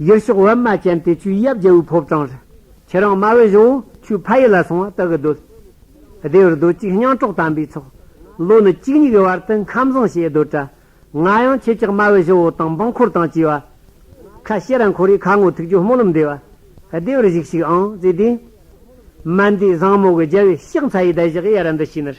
ཡུལ་ཕྱོགས་བར་མ་ཅན་དེ་ཆུའི་གཡབ་རྒྱལ་བོའི་ཕོབ་གྲངས་རེད། ཁྱེད་རང་དམའ་བའི་གཞོན་བོ་ཆུའི་ཕ་ཡུལ་ལ་སོང་བ་ལྟ་གི་སྡོད། སྡེ་བར་སྡོད་གཅིག་སྙང་གྲོགས་དམ་པའི་ཚོགས། ལོ་ནི་གཅིག་གཉིས་ཀྱི་བར་དུ་མཁའ་བཟང་ཞེས་སྡོད་གྲྭ། ང་ཡང་ཁྱེད་ཅག་དམའ་བའི་གཞོན་བོ་དང་འབངས་འཁོར་དང་བཅས་བ། ཁ་ཤེས་ར་འཁོར་རེའི་ཁ་ངོ་ཐུག་ཆུ་སྨོན་ལམ་འདེབས། སྡེ་བར་གཞིགས་ཤིག་ཨང་རྩེ་ལྡན། མ་འདས་བཟང་མོ་གི་རྒྱལ་བའི་གཤེགས་མཚལ་ཡི་བརྡ་བཞག་ཡ་ར་འདི་ཤི་ནར།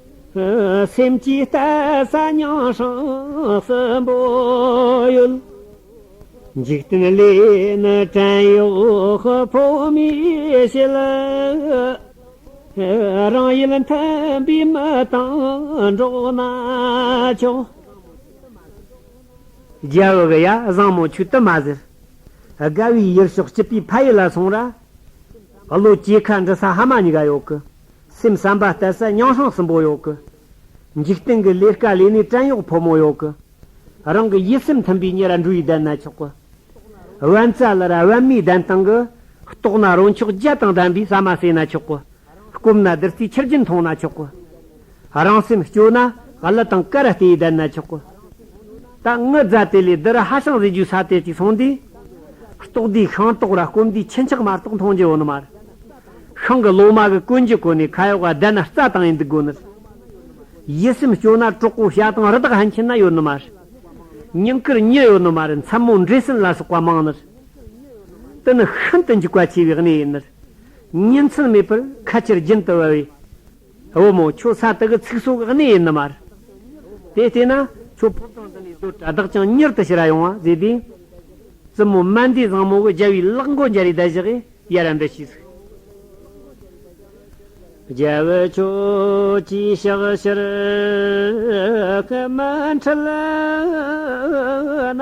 སེམས་ཀྱི་ལྟ་ས་མྱོང་ཤིང་གསོན་པོ་ཡོད། འཇིག་རྟེན་ལས་ནི་བྲན་གཡོག་ཕོ་མོའི་བྱེད་ལ། རང་ཡུལ་མཐུན་པའི་མི་དང་འགྲོགས་ན་ཆོག། རྒྱལ་བོ་གི་ཡ་བཟང་མོ་ཆུ་དུ་མ་ཟེར། དགའ་བའི་ཡུལ་ཕྱོགས་སྐྱིད་པའི་ཕ་ཡུལ་ལ་སོང་ར། བློ་སྐྱེས་ཁ་འབྲི་ས་ཧ་མ་ཉི་ག་ཡོད་གི། སེམས་བསམ་པ་གཏད་ས་རྙིང་ཧྲང་སུན་པོ་ཡོག་གི། འཇིག་རྟེན་གི་ལས་དཀའ་ལས་ནི་བྲན་གཡོག་ཕོ་མོ་ཡོག་གི། རང་གི་ཡིད་སེམས་མཐུན་པའི་ཉེ་ར་འགྲུ་ཡི་གདན་ན་ཆོག་གི། དབེན་རྩ་ལ་ར་དབེན་མའི་གདན་སྟེང་གི། རྟོགས་ན་རང་ཕྱོགས་རྒྱལ་དང་ལྡན་པའི་ཟ་མ་ཟོས་ན་ཆོག་གི། སྐོམ་ན་བདུད་རྩིའི་ཆུ་རྒྱུན་འཐུང་ན་ཆོག་གི། རང་སེམས་སྐྱོ་ན་གླུ་དང་སྐད་ར་སྟེའི་གདན་ན་ཆོག་གི། ད་ངུ་རྫ་དེ་ལས་འདི་རུ་ཧ་ཤང་བཟོས་རྒྱུའི་ས་དེ་ཅིག་སོང་དུས། རྟོགས་དུས་ཤིང་ཏོག་ར་སྐོམ་དུས་ཁྱི་འཁྱག་མ་རྟོགས་མཐོང་རྒྱུ་འོ་ན་མར། ཤིང་གི་ལོ་མ་གི་ཀུན་གྱི་གོ་ནས་ཁ་ཡོག་ག་བསྡད་ན་རྩ་དང་ཡི་འདུག་དགོས་ནི། ཡིད་སེམས་སྐྱོ་ན་གྲོགས་པོ་ཤ་དང་རི་དྭགས་ཧན་ཆེན་ན་ཡོད་ནི་མ་རེད། སྙིང་ཁུར་ཉེ་ཡོད་ནི་མ་རེད་མཚན་མོ་འབྲས་སྲིན་ལ་སོགས་པ་མང་ནི་རེད། འདི་ནི་ཤིན་ཏུ་འཇིགས་པ་ཆེ་བའི་གནས་ཡིན་ནི་རེད། ཉིན་མཚན་མེད་པར་ཁ་ཆེར་རྒྱུན་དུ་བབས་པས། བུ་མོ་ཁྱོད་ས་དག་གི་ཚིག་སོགས་གནས་ཡིན་ནི་མར། དེ་ལྟས་ན་ཁྱོད་ཕོ་བྲང་འདི་ནས་སྡོད་གྲྭ་བདག་ཀྱང་མྱུར་དུ་ཕྱི་ར་ཡོང་བ་མཛད་དེ། བཙུན་མོ་སྨན་ཟླའི་བཟང་མོ་གི་རྒྱལ་བའི་གླག་མགོ་འཇའ་རིས་བདལ་བཞག་གིས་ཡར་ར་འདྲི་ཞེས་གསུངས། རྒྱལ་བུ་ཁྱོད་ཀྱིས་ཕྱག་ཕྱིར་སྐད་མི་འཕྲོད་ན།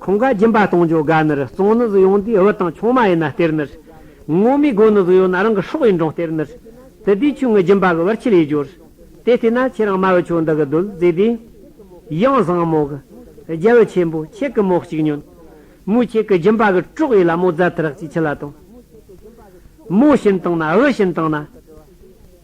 ཁོང་ག་སྦྱིན་པ་གཏོང་ཆོག་ག་ནི་རུ་གཙང་ནི་ཟི་ཡོང་དུས་བུ་དང་ཆུང་མ་ཡིན་ན་སྟེར་ནི་རུ། སྔོན་མའི་སྒོ་ནི་ཟི་ཡོ་ན་རང་གི་ཧྲོག་ཡིན་གྲོང་སྟེར་ནི་རུ། དེ་དུས་ཆུང་ངུ་སྦྱིན་པ་གི་བར་ཁྱི་ལས་སྦྱོར། དེ་ལྟས་ན་ཁྱེད་རང་མ་བུ་ཆུང་འདི་གི་རྡོལ་བརྫིས་དུས། གཡང་བཟང་མོ་གི། རྒྱལ་བུ་ཆེན་པོ་ཁྱེད་གི་མོ་གཅིག་ཉོན། མོས་ཁྱེད་གི་སྦྱིན་པ་གི་དཀྲོག་ཡས་ལ་མོ་རྫ་ཐི་རག་ཅིག་ཁྱི་ལ་བཏང། མོ་བྱིན་བཏང་ན་བུ་བྱིན་བཏང་ན།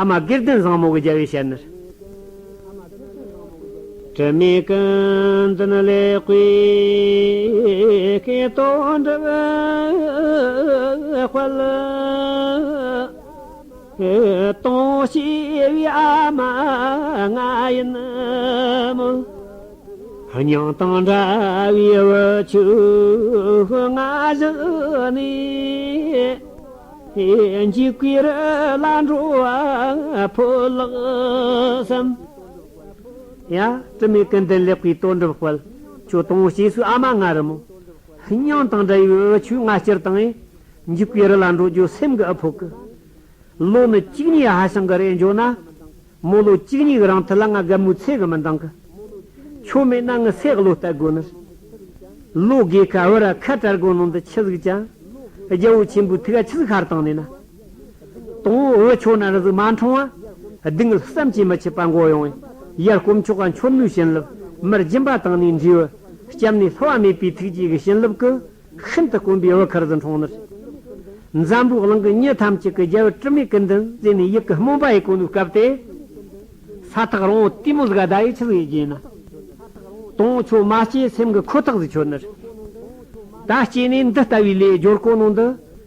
ཨ་མ་སྐལ་ལྡན་བཟང་མོ་གི་རྒྱལ་བའི་ཞལ་ནས། དྲི་མེད་ཀུན་འཛིན་ལེགས་པའི་སྐལ་རྡོར་འདྲ་བའི་དཔལ། སྟོང་ཤེས་པའི་ཨ་མ་ང་ཡིན་མོད། སྙིང་དང་འདྲ་བའི་འུ་ཆུ་ང་བཞི་ནི། འཇིགས་པའི་བླ་འགྲོ་ཕོ་ལགས་སམ། ཡ། དྲི་མེད་ཀུན་ལྡན་ལེགས་པའི་གཏོར་འགྲུབ་དཔལ། ཁྱོད་སྟོང་བ་སྐྱེས་སུ་ཨ་མ་ང་རུ་མོ། སྙིང་དང་འདྲ་བའི་འུ་ཆོས་ང་སྤྱིར་བཏང་ཡིན། འཇིགས་པའི་རི་ལ་འགྲོ་རྒྱུ་སེམས་ཀྱི་ཨ་ཕོ་ཀི། བློ་ནི་གཅིག་ཉིད་ཧ་ཤང་གི་རེ་འབྱོར་ན། རྨོ་ལོ་གཅིག་ཉིག་རང་ཐུ་ལ་ང་རྒད་མོའི་ཚེ་གི་མི་འདང་གི། ཆོ་མེད་ན་ངི་སེ་གློ་སྟད་གོ་ནི། ལོ་དགེ་ཁ་བི་ར་ཁ་བྲལ་གོ་ནང་དུ་ཆི་ཟིག་ཅང། རྒྱལ་བོ་ཆེན་པོའི་ཐུ་ག་ཆི་ཟིག་ཁར་དང་ནི་ན། དང་བོ་བི་ཆོ་ན་རི་ཟིག་མ་འཁྲང་བ། སྡིག་ངལ་བསམ་ཅི་མི་ཆི་པ་འགོ་ཡང་བའི། ཡར་སྐོམ་མཆོག་ག་འཆོར་ནུའི་བྱིན་རླབས། མིར་སྦྱིན་པ་དང་ནི་འདྲིས་བི། སྐྱབས་ནི་ལྷི་བ་མེད་པའི་ཐུགས་རྗེ་གི་བྱིན་རླབས་ཀི། ཤིན་ཏུ་དཀོན་པའི་བུ་གར་ཟི་འཕྲོག་ནི། འཛམ་བུའི་གླིང་གི་མྱི་ཐམས་ཅད་ཀྱི་རྒྱལ་བུ་དྲི་མེད་ཀྱི་མདུན་བཙན་ནས་ཡིད་ཀྱི་སྨོན་པ་ཡི་གོ་ནུ་བཀབ་སྟེ། ས་ཐག་རིང་བོ་ཏི་མོ་ཟི་ག་ཟླ་ཡི་ཆུ་ཟི་ཡི་རྒྱན། དུང་ཆོས་མ་སྐྱེས་སེམས་ཀྱི་ཁོ་ཐག་ཟི་ཆོད་ནི། ད་སྐྱེས་ནས་འདི་ལྟ་བུའི་ལས་སྦྱོར་གོ་ནོ་འདི།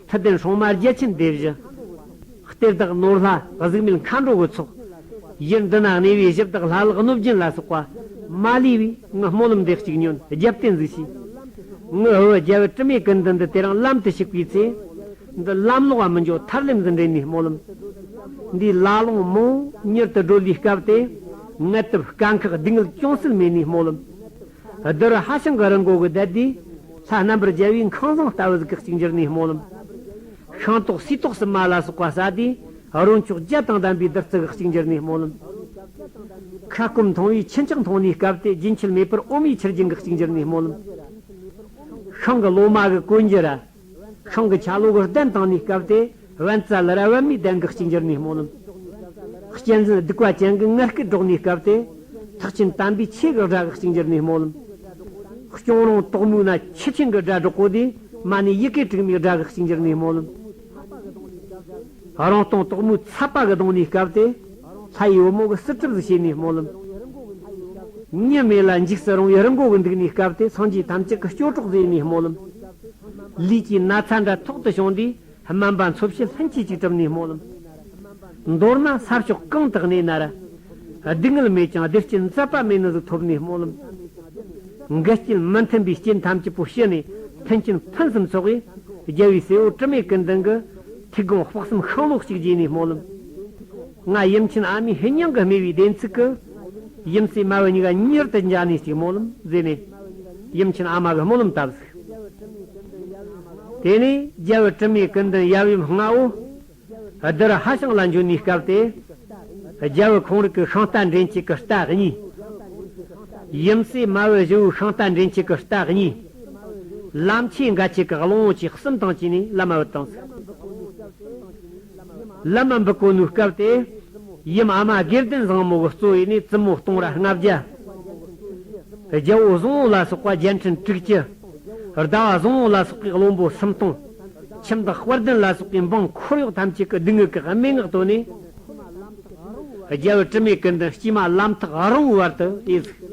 མཐུ་ལྡན་ཧྲོང་དམར་རྒྱལ་ཆེན་སྡེ་བཞི། གཏེར་བདག་ནོར་ལྷ་གཟུགས་མེད་མཁའ་འགྲོ་བུ་ཚོགས། གཞིར་འདུ་ནག་གནས་པའི་གཞི་བདག་ལྷ་ལག་གནོད་སྦྱིན་ལ་སོགས་པ། མ་ལུས་པའི་དངོས་སྨོན་ལམ་འབྲས་གཅིག་ཉོན་རྒྱབ་བརྟེན་གཟིགས་ཤིག། དངོས་ཨུ་རྒྱལ་བུ་དྲི་མེད་ཀུན་འདུན་འདི་དེརང་ལམ་དུ་ཞུགས་པའི་ཚེ། འདི་ལམ་ལོག་པ་མི་འཇོག་ཐར་ལམ་འཛིན་འདྲེན་ནུས་སྨོན་ལམ། འདིའི་བླ་ལོངས་མོ་མྱུར་དུ་སྒྲོལ་བའི་སྐབས་ཏེ། དངལ་དུབ་དཀའ་འཁག་སྡུག་བསྔལ་ཅུང་ཟད་མེད་ནུས་སྨོན་ལམ། བསྡུར་བ་ཧ་ཅང་གི་རིང་གོ་གི་བསྡད་དེ། ལྷ་རྣམ་པར་རྒྱལ་བའི་ཁང་བཟང་ལྟ་བུ་གཟུགས་གཅིག་འགྱུར་ནས་སྨོན་ལམ། ཤིང་ཏོག་སུའི་ཏོག་སི་མ་ལ་སོགས་པ་བཟའ་སྟེ། རོ་མཆོག་བརྒྱད་དང་ལྡན་པའི་བདུད་རྩི་གཟུགས་གཅིག་འགྱུར་ནས་སྨོན་ལམ། ཁ་སྐོམ་མཐོང་བས་ཁྱི་ལྕགས་མཐོང་ནས་བསྐབས་ཏེ་རྒྱུན་ཆད་མེད་པར་ཨོམ་ཡིག་ཆུར་སྦྱིན་གཟུགས་གཅིག་འགྱུར་ནས་སྨོན་ལམ། ཤིང་གི་ལོ་མ་གི་གོས་འགྱུར་ར། ཤིང་གི་ཆ་ལུགས་གདན་སྟེང་ནས་བཀབ་སྟེ་བན་རྩ་ལ་ར་བན་མའི་གདན་གྱི་གཅིག་འགྱུར་ནས་སྨོན་ལམ། གཅན་གཟན་སྡིག་བ་ཅན་གྱི་མངལ་སྐེ་སྒྲོག་ནས་བཀབ་སྟེ། ཐག་ཆེན་དམ་པའི་ཆོས་ཀྱི་སྒྲ་གི་གཅིག་འགྱུར་ནས་སྨོན་ལམ། སྐྱོང་རོང་དོག་མོའི་ན་ཆེ་ཆེན་གྱི་སྒྲ་སྒྲོག་གོ་དེ་མ་ནས་ཡི་གེ་དྲུག་མའི་སྒྲ་གི་གཅིག་འགྱུར་ནས་སྨོན་ལམ། རང་སྟོང་དོག་མོའི་ཚ་པ་གི་གདོང་ནས་བསྐལ་ཏེ། ལྷ་ཡི་བུ་མོ་གི་སྲིད་ཁྲིབས་སུ་བྱས་ནས་སྨོན་ལམ། གཉིས་མེད་ལ་འཇིགས་སུ་རུང་བའི་རི་མགོ་གི་འདུག་ནས་བསྐལ་ཏེ་སངས་རྒྱས་ཐམས་ཅད་ཀྱི་སྐྱོ་གྲོགས་མཛད་ནས་སྨོན་ལམ། ལུས་ཀྱི་ན་ཚ་འདྲ་ཐོག་ཏུ་བྱུང་དུས་སྨན་པ་འཚོ་བྱེད་ལྷན་སྐྱེས་ཅིག་གྲུབ་ནས་སྨོན་ལམ། མདོར་ན་ས་ཕྱོགས་གང་དག་ནས་ན་ར། སྡུག་བསྔལ་མེད་ཀྱང་བདེ་སྐྱིད་མཛད་པ་མེད་ན་གཟུགས་ཐོབ་ནས་སྨོན་ལམ། འགལ་རྐྱེན་མི་མཐུན་པའི་རྐྱེན་ཐམས་ཅད་པོ་ཞི་ནས་མཐུན་རྐྱེན་ཕུན་སུམ་ཚོགས་པའི་རྒྱལ་བའི་སྲས་པོ་དྲི་མེད་ཀུན་ལྡན་གྱི། ཐིག་གོང་དཔག་བསམ་ཤིང་ལོགས་གཅིག་རྗེས་ནས་སྨོན་ལམ། ང་དབྱིན་ཆེན་ཨ་མའི་ཧི་ཉང་གི་སྨེ་བའི་བདེན་ཚིག་གི། ཡུམ་སྲས་སྨྲ་བའི་སྙིང་ག་གཉེར་དུ་འཇགས་ནས་གཅིག་སྨོན་ལམ་མཛད་ནས། ཡུམ་ཆེན་ཨ་མ་གི་སྨོན་ལམ་བཏབ་ཟིག། དེ་ནས་རྒྱལ་བུ་དྲི་མེད་ཀུན་མདུན་ཡབ་ཡུམ་ལྔ་བོ། བདུད་ཧ་ཤང་ལ་འབྱོན་ནས་སྐབས་དེ། རྒྱལ་བུ་ཁོང་རིགས་ཀྱི་ཤིང་རྟ་འདྲེན་བྱེད་ཀྱི་རྟ་གཉིས། ཡུམ་སྲས་སྨྲ་བའི་བཞི་བོའི་ཤིང་རྟ་འདྲེན་བྱེད་ཀྱི་རྟ་གཉིས། ལམ་ཆེན་འགའ་ཆེ་གེགས་ལོང་བོ་ཆེ་གསུམ་དང་བཅས་ནས་བླ་མ་འོད་དང། བླ་མ་འབུལ་གོ་ནུའི་སྐབས་ཏེ། ཡུམ་ཨ་མ་སྒེར་ལྡན་བཟང་མོ་གི་གཙོ་བོས་ནི་བཙུན་མོ་སྟོང་ར་ལྔ་བརྒྱ། རྒྱལ་པོ་བཟང་བོ་ལ་སོགས་པ་བརྒྱད་འཕྲིན་དྲུག་བཅུ། ཟླ་བ་བཟང་བོ་ལ་སོགས་པའི་བློན་པོ་སུམ་སྟོང། ཁྱིམ་བདག་དཔལ་ལྡན་ལ་སོགས་པའི་འབངས་འཁོར་གཡོག་ཐམས་ཅད་ཀྱི་སྡུག་བསྔལ་གྱི་སྨྲེ་སྔགས་བཏོན་ནས། རྒྱལ་པོ་དྲི་མེད་ཀུན་ལྡན་དཀྱུས་མ་ལམ་ཐག་རིང་བོའི་བར་དུ་དབྱེ་གཟུགས།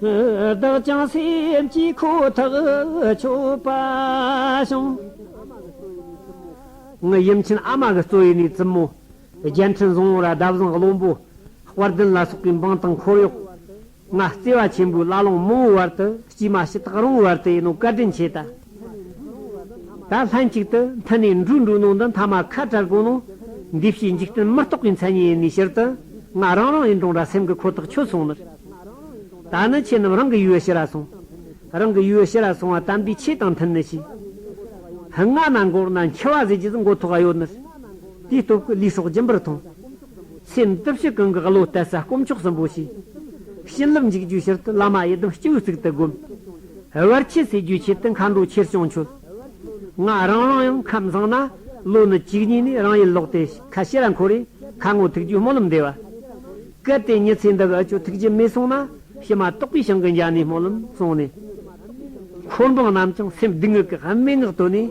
བདག་ཀྱང་སེམས་ཀྱི་ཁུ་ཐག་ཆོད་པ་བྱུང། ངའི་ཡུམ་ཆེན་ཨ་མ་གི་གཙོ་ཡི་ནས་བཙུན་མོ། རྒྱལ་ཕྲན་བཟང་བོ་ར་བདའ་བཟང་བློན་པོ། དཔལ་ལྡན་ལ་སོགས་པའི་འབངས་དང་འཁོར་གཡོག། ང་བརྩེ་བ་ཆེན་པོས་བླ་བླང་མང་བོའི་བར་དུ་དཀྱུས་མ་ཕྱི་ཐག་རིང་བོའི་བར་དུ་ཡིན་ནོ་བཀའ་དྲིན་ཆེ་ད། ད་ལྷན་ཅིག་ཏུ་མཐུན་ནས་འབྲུ་འགྲོ་ནང་དུ་མཐའ་མ་ཁ་བྲལ་དགོས་ན། འདུས་བྱས་འཇིག་རྟེན་མི་རྟོག་པའི་མཚན་ཉིད་ཡིན་ནས་ཕྱིར་དུ་ང་རང་རང་ཡིན་གྲང་ར་སེམས་ཀྱི་ཁོ་ཐག་ཆོད་སོང་མོད། ད་ནི་ཁྱེད་རྣམས་རང་གི་ཡུལ་ཕྱི་ར་སོང། རང་གི་ཡུལ་ཕྱི་ར་སོང་བ་དམ་པའི་ཆོས་དང་མཐུན་ནི་ཞིག། ཕུ་ང་ན་འགོག་ན་འཁྱིལ་བ་ཟེར་གྱི་ཟིག་མགོ་ཐོག་ག་ཡོད་ནི། དེའི་སྟོབས་ཀྱིས་ལུས་སྲོག་སྦྱིན་པར་མཐོང། སེམས་བསྟོད་བཤིག་གང་གི་བློ་གཏད་ས་དཀོན་མཆོག་གསུམ་པོ་ཞིག། བྱིན་རླབས་འཇིགས་རྒྱུའི་ཕྱིར་དུ་བླ་མ་ཡི་དམ་སྤྱི་བོའི་གཙུག་ཏུ་བསྒོམ། བར་ཆད་སེལ་རྒྱུའི་ཆེད་དུ་མཁའ་འགྲོ་ཆེར་བྱང་ཆུབ་ལྔ། རང་རང་ཡང་ཁམས་བཟང་ན་བློ་ནི་གཅིག་ཉིད་ནས་རང་ཡིད་ལོག་སྟེ་ཁ་ཕྱེ་ར་འཁོར་རེ་ཁ་སྔོ་ཐུགས་རྒྱུད་སྨོན་ལམ་བཟླས་པ། གལ་ཏེ་ཉི་ཚེ་འདི་གི་ཆུ་ཐིགས་ཀྱི་མེས་སོང་ན་ཕྱི་མ་རྟོགས་པའི་ཞིང་གི་འཇའ་ནི་སྨོན་ལམ་གསུངས་ནས། འཁོར་འབངས་རྣམས་ཀྱང་སེམས་སྡུག་བསྔལ་གྱི་སྨྲེ་སྔགས་བཏོན་ནས།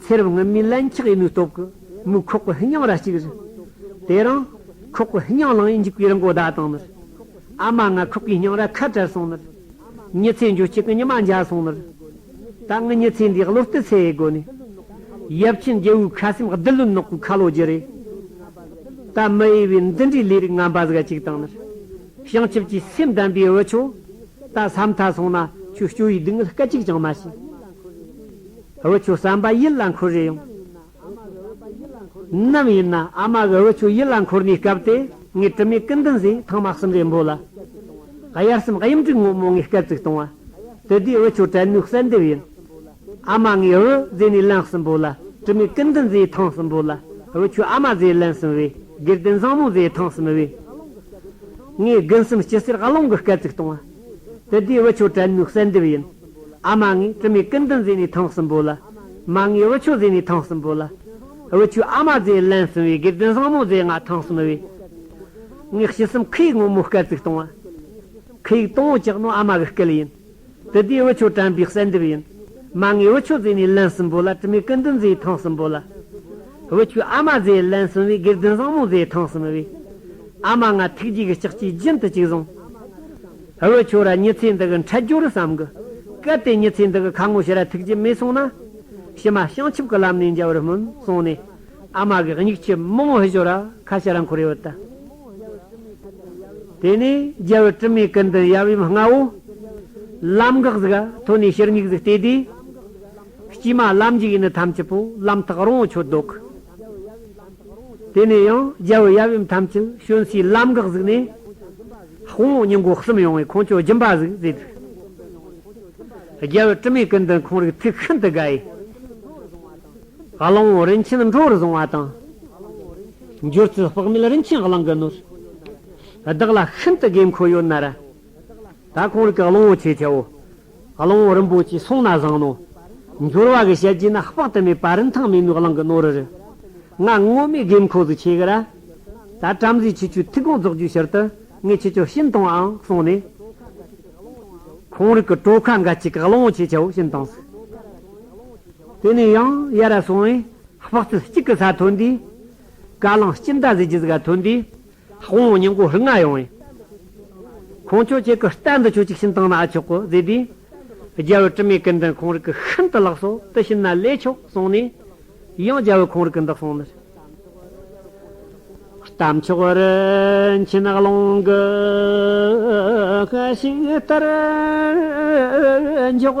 ཚེ་རབས་སྔོན་མའི་བླ་འཁྱགས་ཡིན་མིན་རྟོགས་གི་མི་ཁོག་གི་ཧི་ཉང་ར་གཅིག་རེད། དེ་རིང། ཁོག་གི་ཧི་ཉང་ལང་ཡིན་འཇིག་པའི་རིན་གོང་བརྡ་བཏང་ནིར། ཨ་མ་ང་ཁོག་གི་ཧི་ཉང་ར་ཁ་བྲལ་སོང་ནིར། མྱི་ཚེ་འགྱོ་སྐྱིད་གི་ཉི་མ་འཇའ་སོང་ནིར། ད་ངི་མྱི་ཚེ་འདིའི་གློ་རྟི་ཚེ་ཡི་སྒོ་ནས། ཡབ་ཆེན་རྒྱལ་བོའི་ཁ་སེམས་རྡུལ་ལུན་ནག་པོའི་ཁ་ལོ་སྒྱུར་རེ། ད་མི་དབྱེ་བའི་འདི་འདྲའི་ལས་རིགས་ངན་པ་ཟིག་གཅིག་བཏང་ནིར། བྱང་ཆུབ་ཀྱི་སེམས་ལྡན་པའི་བུ་ཆོས། ད་ས་མཐའ་སོང་ན་ཁྱོས་སྐྱོ་བའི་སྡུག་བསྔལ་སྐད་ཅིག་ཀྱང་མ་བྱེད། བུ་ཆུ་བསམ་པ་ཡིད་ལ་འཁོར་རེ་ཡོང། ནམ་ཡིན་ན་ཨ་མ་གི་བུ་ཆུ་ཡིད་ལ་འཁོར་ནས་སྐབས་དེ་ངས་དྲི་མེད་ཀི་འདུན་ཟས་ཐང་མ་གསུམ་རེ་འབོ་ལ། དབྱར་གསུམ་གཡུམ་དྲུག་སྔོན་མོ་ངས་སྐད་བཙུགས་བཏང་བ། དེ་དུས་བུ་ཆུ་དྲན་ནུས་གསལ་འདེབས་ཡིན། ཨ་མ་ངས་བུ་བཟས་ནས་ལན་གསུམ་འབོ་ལ། དྲི་མེད་ཀི་འདུན་ཟས་ཐང་གསུམ་འབོ་ལ། བུ་ཆུ་ཨ་མ་བཟས་ལན་གསུམ་བས་སྒེར་དོན་བཟང་མོ་ཟས་ཐང་གསུམ་བས། ངས་དགུན་གསུམ་སྐྱི་སེར་ཀློང་གི་སྐད་བཙུགས་བཏང་བ། དེ་དུས་བུ་ཆུ་དྲན་ནུས་གསལ་འདེབས་ཡིན། ཨ་མ་ངའི་ཙི་མའི་ཀུན་ཏུ་མཛེས་ནས་ཐང་གསུམ་པོ་ལ། མ་ངའི་དབུ་ཆུ་མཛེས་ནས་ཐང་གསུམ་པོ་ལ། དབུ་ཆུ་ཨ་མ་མཛེས་ལན་གསུམ་བས་སྒེར་དོན་བཟང་མོ་མཛད་ང་ཐང་གསུམ་བས། ངས་ཕྱི་གསུམ་ཁུ་ཡིག་སྔོན་མོ་སྐར་ཚིགས་སྟོང་བ། ཁུ་ཡིག་སྟོང་བོ་ཅག་ནོ་ཨ་མ་གི་སྐལ་ཡིན། དེ་དུས་དབུ་ཆུ་དྲན་པའི་གསལ་འདེབས་ཡིན། མ་ངའི་དབུ་ཆུ་མཛེས་ནས་ལན་གསུམ་པོ་ལ་ཙི་མའི་ཀུན་ཏུ་མཛེས་ཐང་གསུམ་པོ་ལ། དབུ་ཆུ་ཨ་མ་མཛེས་ལན་གསུམ་བས་སྒེར་དོན་བཟང་མོ་མཛད་ཐང་གསུམ་བས། ཨ་མ་ང་ཐུགས་རྗེ་གི་ལྕགས་ཀྱིས་རྒྱུན་དུ་གཅིག་བཟུང། ཨ་བོ་ཁྱོད་ར་མྱི་ཚེ་འདི་གི་འཕྲལ་འགྱུར་བསམ་གི། གལ་ཏེ་མྱི་ཚེ་འདི་གི་ཁ་ངོ་ཤི་ར་ཐུགས་ཀྱི་མེད་སོང་ན། ཕྱི་མ་བྱང་ཆུབ་ཀྱི་ལམ་ནས་འཇལ་བར་སྨོན་གསུངས་ནས། ཨ་མ་གི་མྱིག་ཆུ་མི་ངོ་ཤོར་ར་ཁ་ཤི་ར་འཁོར་ཡོད་དུ། དེ་ནས་རྒྱལ་བུ་དྲི་མེད་ཀུན་ཏུ་ཡབ་ཡུམ་ལྔ་བོ། ལམ་འགག་གཟུགས་ཐོན་ནས་ཕྱིར་མྱིག་གཟུགས་བལྟས་དུས། དཀྱུས་མ་ལམ་འཇུག་ཡིན་ནི་ཐམས་ཅད་པོ་ལམ་ཐག་རོང་བོ་ཁྱོད་ལྡོག་གི། དེ་ནས་ཡང་རྒྱལ་བུ་ཡབ་ཡུམ་ཐམས་ཅད་གཤོན་སའི་ལམ་འགག་གཟིགས་ནས། དཔུང་བོ་སྙིང་པོ་གསུམ་ཡོང་བའི་ཁོང་ཁྱོད་སྦྱིན་པ་གཟིགས་མཛད་དུས། རྒྱལ་བུ་དྲི་མེད་ཀུན་ཏུ་འཁོར་བའི་ཐུགས་ཤིན་ཏུ་དགའ་ཡི། གླིང་བུ་རིན་ཆེན་འགྲོ་བར་བཟུང་བ་དང། འགྱུར་ཚུལ་དཔག་མེད་རིན་ཆེན་གླིང་གི་ནོར། བདག་ལ་ཤིན་ཏུ་དགོས་མཁོ་ཡོད་ན་ར། ད་གང་རིགས་ཀྱི་གླང་བོ་ཆེ་ཆེའོ། གླང་བོ་རིན་པོ་ཆེའི་གསུང་ན་བཟང་ནོ། འབྱོར་བ་གི་ཞལ་གྱིས་ནི་དཔག་ཏུ་མེད་པ་རིན་ཐང་མེད་མོའི་གླང་གི་རྣོ་རུ་རུ། ང་སྔོན་མའི་དགོས་མཁོ་སུ་ཆེ་གི་ར། ད་བྲམ་ཟེའི་ཁྱེད་ཆོས་ཐིག་གང་རྫོགས་རྒྱུའི་ཕྱིར་དུ་ངས་ཁྱེད་ཅག་ཤིན་དང་ཨང་གསུངས་ནས། གང་རིགས་ཀྱི་གྲོ་ཁ་འགའ་གཅིག་གི་གླང་བོ་ཆེ་ཆེའོ་ཤིན་དང་སུ། དེ་ནས་ཡང་ཡར་ར་སོང་བས་དཔག་ཚད་གཅིག་གི་ས་ཐོན་དུས། ཀ་གླང་སྐྱིན་ད་གཟི་བརྒྱུད་ག་ཐོན་དུས། ཧོང་བོ་སྙིང་པོ་རིགས་ལྔ་ཡོང་བའི། ཁོང་ཁྱོད་ཀྱི་ཀི་སྟན་འདི་ཁྱོད་ཅིག་བྱིན་བཏང་ན་ཨ་ཆོག་གོ་ཟེར་དུས། རྒྱལ་བོས་དྲི་མེད་ཀི་འདི་ཁོང་རིགས་ཀི་ཤིན་ཏུ་ལགས་སོ་དེ་བྱིན་ན་ལེགས་ཆོག་གསུངས་ནས། ཡང་རྒྱལ་བོས་ཁོང་རིགས་ཀི་འདི་གསུངས་ནས། རྟ་མཆོག་རིན་ཆེན་ནགས་ཀློང་གི་ཤིང་རྟར་འཇོག།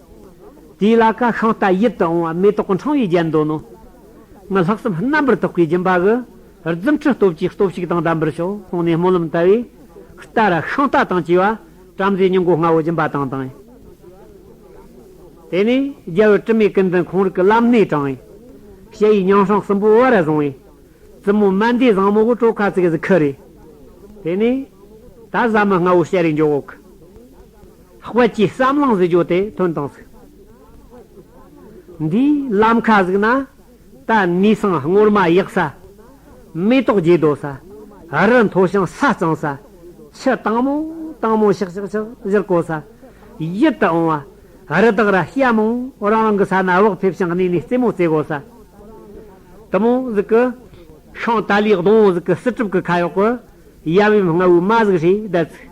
དེའི་ལ་ཀ་ཤིང་རྟ་ཡིད་དུ་འོང་བ་མེ་ཏོག་གི་འཕྲེང་བས་བརྒྱན་འདོད་ནོ། ངའི་ལྷག་བསམ་རྣམ་པར་དག་པའི་སྦྱིན་པ་གི། རྫུ་འཕྲུལ་སྟོབས་ཀྱིས་སྟོབས་ཤིག་དང་ལྡན་པར་ཤོག་གསུངས་ནས་སྨོན་ལམ་བཏབ་བས། རྟ་ར་ཤིང་རྟ་དང་བཅས་པ། བྲམ་ཟེའི་སྙིང་གོ་ལྔ་བོ་སྦྱིན་པ་དང་དང། དེ་ནས་རྒྱལ་བུ་དྲི་མེད་ཀུན་འཛིན་ཁོང་རིག་གི་བླ་མནས་དྲངས། ཞལ་ཡི་ཉང་ཧྲང་གསུམ་པོ་དབུ་ར་བཟུང་བས། བཙུན་མོ་སྨན་ཟླའི་བཟང་མོ་བུ་སྤྲོ་ཁ་ཚིག་གཟིགས་ཁུ་རེ། དེ་ནས། ད་བཟའ་མི་ལྔ་བོ་ཞལ་རས་འཇོག། དབལ་གྱི་བསམ་ལང་གཟིགས་བྱོ་དེ་དོན་དང་གཟིགས། འདིའི་ལམ་མཁའ་གཟིགས་ན། ད་ནི་སང་སྔོར་མ་ཡག་ས། མེ་ཏོག་རྒྱས་དོ་ས། རི་མཐོ་ཞིང་ས་གཙང་ས། ཆུ་དྭངས་མོ་དྭངས་མོ་ཤག་ཤག་ཤག་བཞུར་གོ་ས། ཡིད་དུ་འོང་བ། རི་དྭགས་ར་སྐྱ་མོ་རང་རང་གི་ས་ན་བག་ཕེབས་ཤིང་གནས་ནས་རྩེད་མོ་རྩེ་གོ་ས། དུ་མོ་གཟིགས་ཀྱི། ཤིང་དལ་ལའི་གདོང་གཟིགས་ཀྱི་སྲིད་གྲུབ་ཀྱི་ཁ་གཡོག་གི། ཡབ་ཡུམ་རྔ་བོའི་མ་གཟིགས་ཞེས་བརྡལ་ཚིག།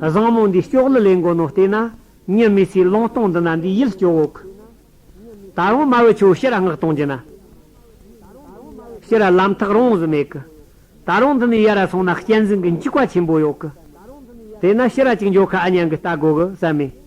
བཟང་མོ་འདིས་སྐྱོག་ལི་ལེན་དགོ་ནོ་བལྟས་ན་ཉི་མའི་ཚེའི་ལོང་སྟོང་འདི་ན་འདིས་ཡིད་སྐྱོ་བོ་ཁུ། ད་རུང་མ་བོས་ཁྱོའི་ཕྱིར་སྔགས་གཏོང་རྒྱུ་ན། ཕྱིར་ལམ་ཐག་རོང་བཟི་མེད་ཀི། ད་རུང་འདི་ནས་ཡར་ར་སོང་ན་གཅན་གཟན་གི་འཇིགས་པ་ཆེན་པོ་ཡོག་ཀི། དེས་ན་ཕྱིར་ར་ཅིག་འཇོག་ཁ་ཨ་ཉང་གི་རྟ་དགོ་གི་བསམ་མེད།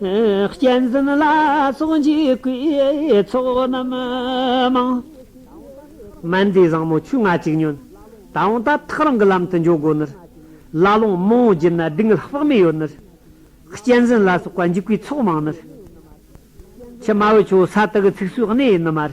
གཅན་གཟན་ལ་སོགས་འཇིགས་བསྐུལ་ཚོགས་རྣམས་མང། སྨན་རྫས་བཟང་མོ་ཆུ་ལྔ་གཅིག་ཉོན། ད་འོང་ད་ཐག་རང་གི་ལམ་དུ་འཇོག་དགོས་ནུར། བླ་ལོང་རྨོ་བོང་བརྒྱུད་ན་སྡུག་བསྔལ་དཔག་མེད་ཡོད་ནུར། གཅན་གཟན་ལ་སོགས་པ་འཇིགས་བསྐུལ་ཚོགས་མང་ནུར། ཕྱི་མ་བོད་ཆུ་བོ་ས་དག་གི་ཚིགས་སུ་གནས་ཡིན་ནུ་མར།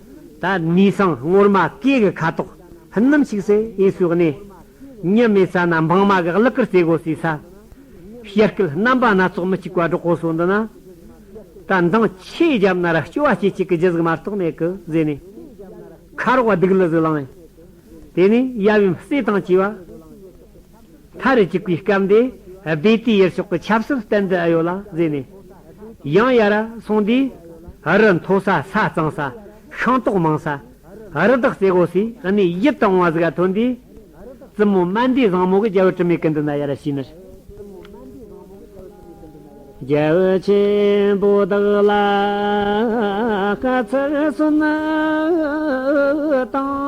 ད་ནི་སང་སྔོར་མ་སྐྱེས་གི་ཁ་དོག་ཕུན་ནམ་ཞིག་སེ་ཨེ་སུ་གནས། ཉི་མའི་ས་ན་འབངས་མ་གི་གླུ་གར་རྩེ་དགོ་སའི་ས། ཞལ་སྐུད་རྣམ་པ་སྣ་ཚོགས་མི་གཅིག་པ་སྒྲོག་གོ་སོ་འདི་ན། ད་མདངས་ཆེ་རྒྱབ་ན་ར་སྐྱོ་བ་སྐྱེས་ཅིག་གི་རྒྱུ་གཟུགས་མ་རྟོགས་མེད་གི་ཟེ་ནས། ཁ་རོག་བ་སྡིག་ལུ་གཟུགས་བླངས། དེ་ནས་ཡབ་ཡུམ་བརྩེ་དང་བཅས་པ། མཐའ་རུ་གཅིག་པའི་སྐབས་འདི་སྦས་དུས་ཡུལ་ཕྱོགས་ཀྱི་ཆབ་སྲིད་བསྟན་དུ་ཨེ་ཡོད་ལ་བཟོས་ནས། ཡང་ཡར་སོང་དུས་རི་མཐོ་ས་ས་གཙང་ས་ཤིང་ཏོག་མང་ས། རི་དྭགས་རྩེ་དགོ་སའི་གནས་ཡིད་དུ་འོང་བ་ཟིག་ག་ཐོན་དུས། བཙུན་མོ་སྨན་འདུས་བཟང་མོ་གི་རྒྱལ་པོའི་དྲི་མེད་ཀུན་འདུས་ན་ཡར་ཕྱིན་ནས། རྒྱལ་བོ་ཆེན་པོ་དག་ལ་བཀའ་ཚར་གསོལ་བཏང།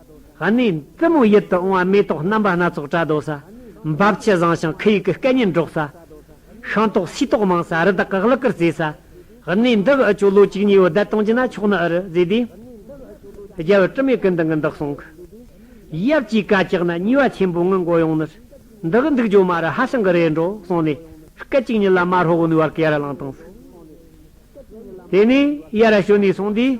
གནས་བཙུན་མོ་ཡིད་དུ་འོང་བ་མེ་ཏོག་རྣམ་པ་སྣ་ཚོགས་བཀྲ་དོག་ས། འབབ་ཆུ་བཟང་ཞིང་ཁུ་ཡུག་གི་སྐད་སྙན་སྒྲོག་ས། ཤིང་ཏོག་སུས་ཏོག་མང་ས་རི་དྭགས་གག་ལག་གིར་རྩེ་ས། གནས་འདི་འི་ཆུ་ལོ་གཅིག་གཉིས་འི་བརྡལ་གཏོང་གྱིས་ན་ཆོག་ནི་འི་རི་རྫས་དེ། རྒྱལ་བུ་དྲི་མེད་ཀུན་འདུ་འི་འདག་སོང་གི། ཡབ་ཀྱིས་བཀའ་བཀྱག་ན་ཉེས་བ་ཆེན་པོ་འི་འགོ་ཡོང་ནི། འདི་འི་འདུག་ཇོ་མ་རི་ཧ་ཤང་གི་རེད་འགྲོ་གསུངས་ནས་སྐད་ཅིག་ཉིད་ལ་མ་ཧྲོ་བོ་ནུས་བར་ཀེ་ར་ལང་བཏང་ས། དེ་ནས་ཡར་ཞོན་ནས་སོང་དུས།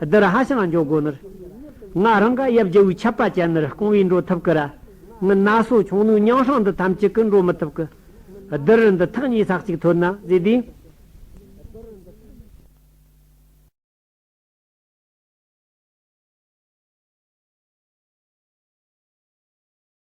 བདུད་ར་ཧ་ཤང་འཇོག་དགོས་ནུར། ང་རང་ག་ཡབ་རྒྱལ་བོའི་ཆབ་པ་ཅན་ནུར་རྐང་བས་འགྲོ་ཐུབ་ཀི་ར། ངི་ན་སོ་ཆུང་ནུའི་ཉང་ཧྲང་འདི་ཐམས་ཅད་ཀི་འགྲོ་མི་ཐུབ་ཀི། བདུད་རི་འདི་ཐག་ཉེ་སག་ཅིག་ཐོད་ན་བཟི་དུས།